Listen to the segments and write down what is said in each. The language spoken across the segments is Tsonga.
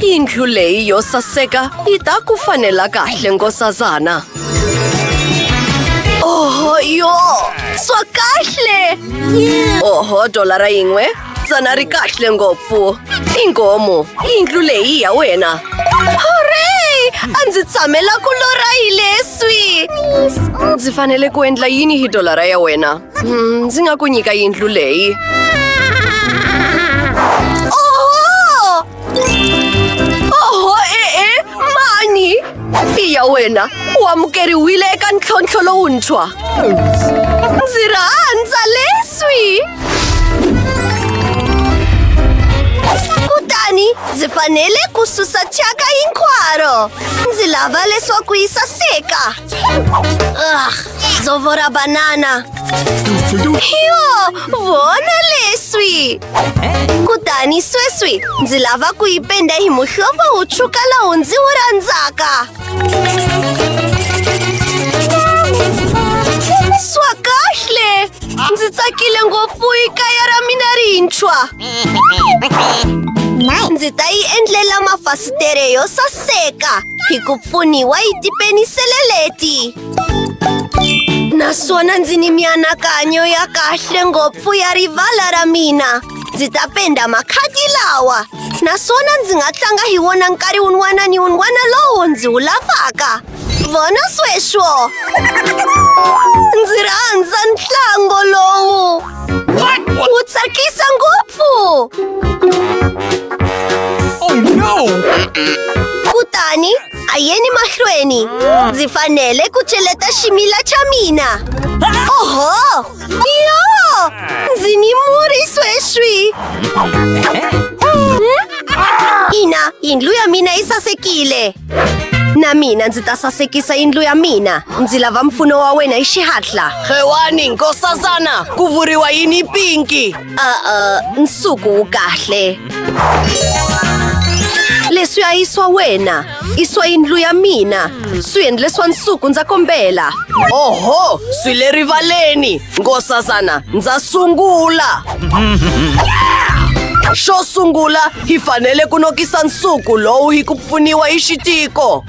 Yindlu leyi yo saseka yi ta ku fanela kahle nkosazana. Oho yo, swa kahle. Oho dolara yin'we, tsana ri kahle ngopfu. Ingomu, yindlu leyi ya wena. Hooray! A ndzi tshamela ku lorha hi leswi. Ndzi fanele ku endla yini hi dolara ya wena? Mm, ndzi nga ku nyika yindlu leyi. ya wena u amukeriwile eka ntlhontlho lowuntshwa ndzi rhandza leswi kutani ndzi fanele ku susa thyaka hinkwaro ndzi lava leswaku yi saseka Zovor a banana! Jo, vona leswi! Kutani sweswi ndzi lava ku yi penda hi muhlovo wu tshuka lowu ndzi wu rhandzaka! Swa kahle! Ndzi tsakile ngopfu hi kaya ra mina rintshwa! Ndzi ta yi endlela mafasitere yo saseka hi ku pfuniwa yi tipenisele leti! naswona ndzi ni mianakanyo ya kahle ngopfu ya rivala ra mina ndzi ta penda makhadi lawa naswona ndzi nga tlanga hi wona nkarhi wun'wana ni wun'wana lowu ndzi wu lavaka vona sweswo ndzi rhandza ntlango lowu wu tsakisa ngopfu oh, kutani A yeni mahlweni Ndzi fanele ku cheleta ximila xa mina Oho! Yo! Ndzi ni murhi sweswi Ina, yindlu ya mina yi sasekile na mina ndzi ta sasekisa yindlu ya mina ndzi lava mpfuno wa wena hi xihatla xewani nkosazana ku vuriwa yini pinki a nsuku wu kahle leswiya i swa wena i swa yindlu ya mina swiendle swa nsuku ndza kombela oho swi le rivaleni ngosazana ndza sungula xo sungula hi fanele ku nokisa nsuku lowu hi ku pfuniwa hi xitiko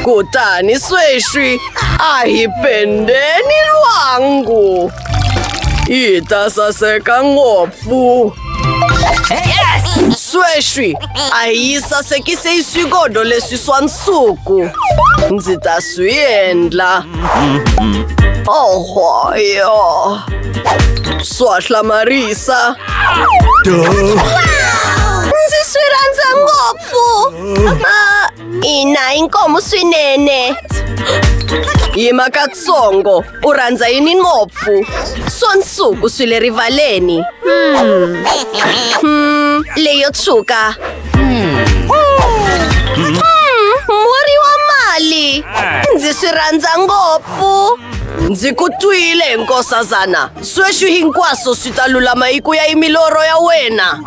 kutani sweswi a hi pendeni lwangu yi ta saseka ngopfu sweswi a yi sasekise yi swigodo leswi swa nsuku ndzi ta swi endla ohoyo swa hlamarisa ndzi swi rhandza ngopfu ina inkomu swinene yima katsongo U rhandza yini ngopfu? Swo nsuku swi le rivaleni. Hmm. Hmm, leyo tshuka. Hmm. Hmm, murhi wa mali. Ndzi swi rhandza ngopfu. Ndzi ku twile, nkosazana. Sweswi hinkwaswo swi ta lulama hi ku ya hi milorho ya wena.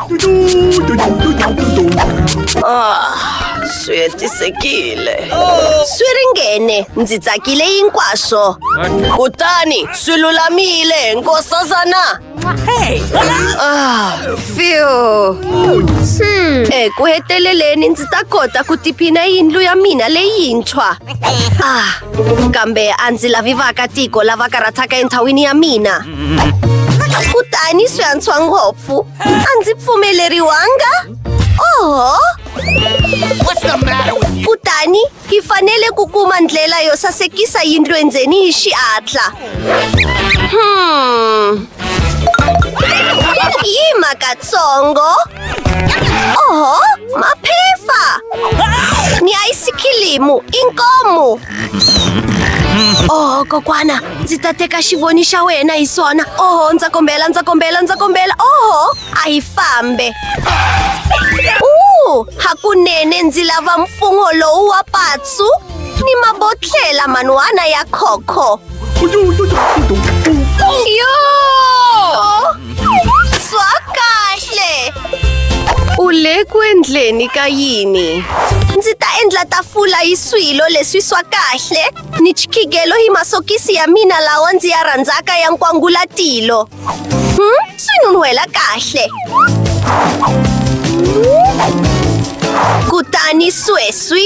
Ah, swi hetisekile. Swi ringene, ndzi tsakile hinkwaswo. Kutani swi lulamile, nkosazana. Ah, phew. Eku heteleleni ndzi ta kota ku tiphina yindlu ya mina leyintshwa. Ah, Kambe a ndzi lavi vaakatiko lava karhataka endhawini ya mina. Kutani swi antswa ngopfu. A ndzi pfumeleriwanga? Oho! Kutani hi fanele ku kuma ndlela yo sasekisa yindlu endzeni hi xihatla. Hmm. Yima katsongo. Oho, maphepha! Ni ice kilimu, inkomu! Oho, kokwana, ndzi ta teka xivoni xa wena hi swona. Oho, ndza kombela, ndza kombela, ndza kombela. Oho, a hi fambe. Uu, hakunene ndzi lava mfungho lowu wa patsu ni mabotlhela man'wana ya khokho. ஐயோ! Swakahle! Ule ku endleni ka yini? Ndzi ta endla tafula hi swilo leswi swa kahle ni chikigelo hi masokisi ya mina lawa ndzi ya rhandzaka ya nkwangulatilo. Hmm? Swi nun'hwela kahle. Kutani sweswi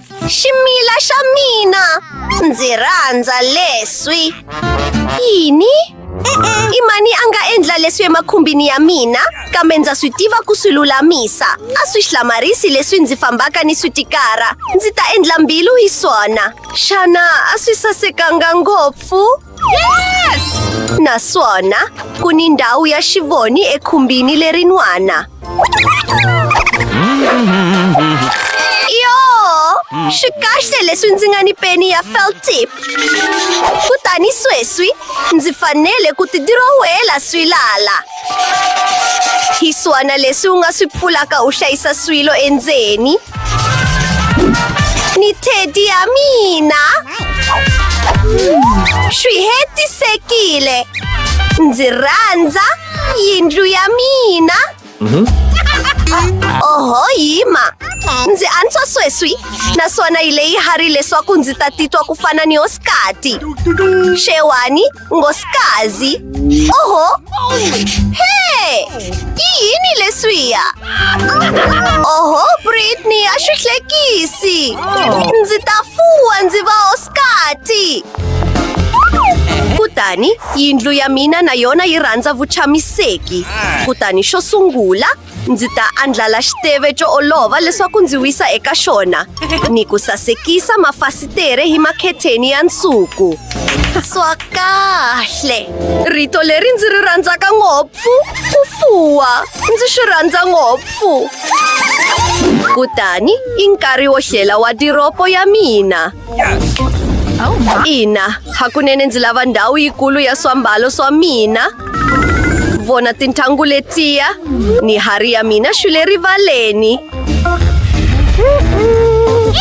Și Mila și Amina! Ndzi rhandza leswi. Yini? I mani a nga endla leswi emakhumbini ya mina kambe ndza swi tiva ku swi lulamisa a swi hlamarisi leswi ndzi fambaka ni swi tikara ndzi ta endla mbilu hi swona xana a swi sasekanga ngopfu Naswona ku ni ndhawu ya xivoni ekhumbini lerin'wana. Yo! Swi kahle leswi ndzi nga ni peni ya felt tip. Kutani sweswi ndzi fanele ku ti dirowela swilala. Hi swona leswi u nga swi pfulaka u hlayisa swilo endzeni ni teddy ya mina swi hetisekile ndzi rhandza yindlu ya mina oho yima ndzi antswa sweswi naswona yi leyi hari leswaku ndzi ta titwa ku fana ni hosikati xewani Ngoskazi. Oho! Hey! Ki yini leswiya? Oho, Britney, a swi hlekisi. Ndzi ta fuwa ndzi va Oskati. Kutani yindlu ya mina na yona yi rhandza vuchamiseki. Kutani xo sungula Ndzi ta andlala xiteve xo olova leswaku ndzi wisa eka xona ni ku sasekisa mafasitere hi makhetheni ya nsuku. Swa kahle! Rito leri ndzi ri rhandzaka ngopfu ku fuwa. Ndzi swi rhandza ngopfu. Kutani i nkarhi wo hlela wadiropo ya mina. Ina, hakunene ndzi lava ndhawu yikulu ya swambalo swa mina. Vona tintangu letiya ni hari ya mina xi le rivaleni.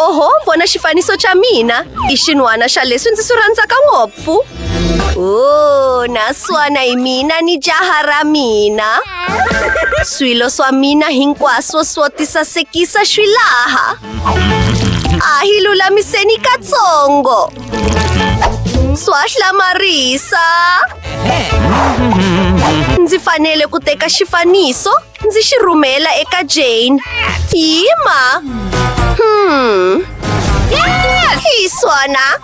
Oho, vona xifaniso xa mina i xin'wana xa leswi ndzi swi rhandzaka ngopfu. Oh, naswona hi mina ni jaha ra mina. Swilo swa mina hinkwaswo swo tisasekisa swi laha. A hi lulamiseni katsongo. Swahla Marisa. Ndzi fanele ku teka xifaniso ndzi xi rhumela eka Jane. Yima. Hmm. Hi swona.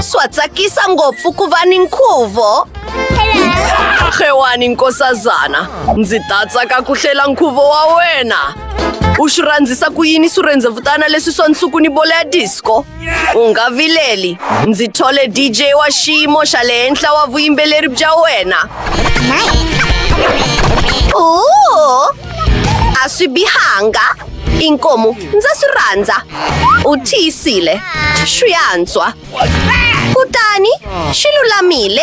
Swa tsakisa ngopfu ku va ni nkhuvo. Xewani nkosazana, ndzi ta tsaka ku hlela nkhuvo wa wena. U swi rhandzisa ku yini swirhendzevutana leswi swa nsuku ni bolo ya disco? U nga vileli, ndzi thole DJ wa xiyimo xa le henhla wa vuyimbeleri bya wena. Ooh, a swi bihanga. inkomu ndza swi rhandza u tiyisile swi antswa kutani swi lulamile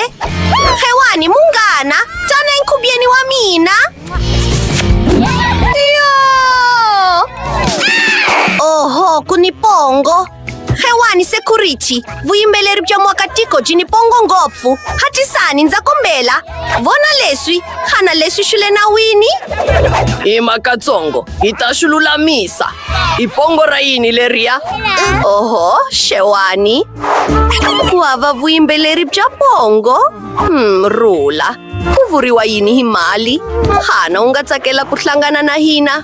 xewani munghana tsana enkhubyeni wa mina yo oho ku ni pongo xewani security vuyimbeleri bya muakatiko byi ni pongo ngopfu hatisani ndza kombela vona leswi xana leswi swi le nawini hi makatsongo hi ta swi lulamisa hi pongo ra yini leriya oho xewani ku hava vuyimbeleri bya pongo hmm, rula ku vuriwa yini hi mali xana u nga tsakela ku hlangana na hina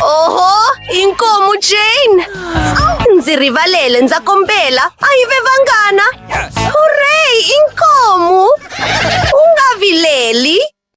oho inkomu jane ndzi rivalele ndza kombela a yi ve vanghana hurey inkomu u nga vileli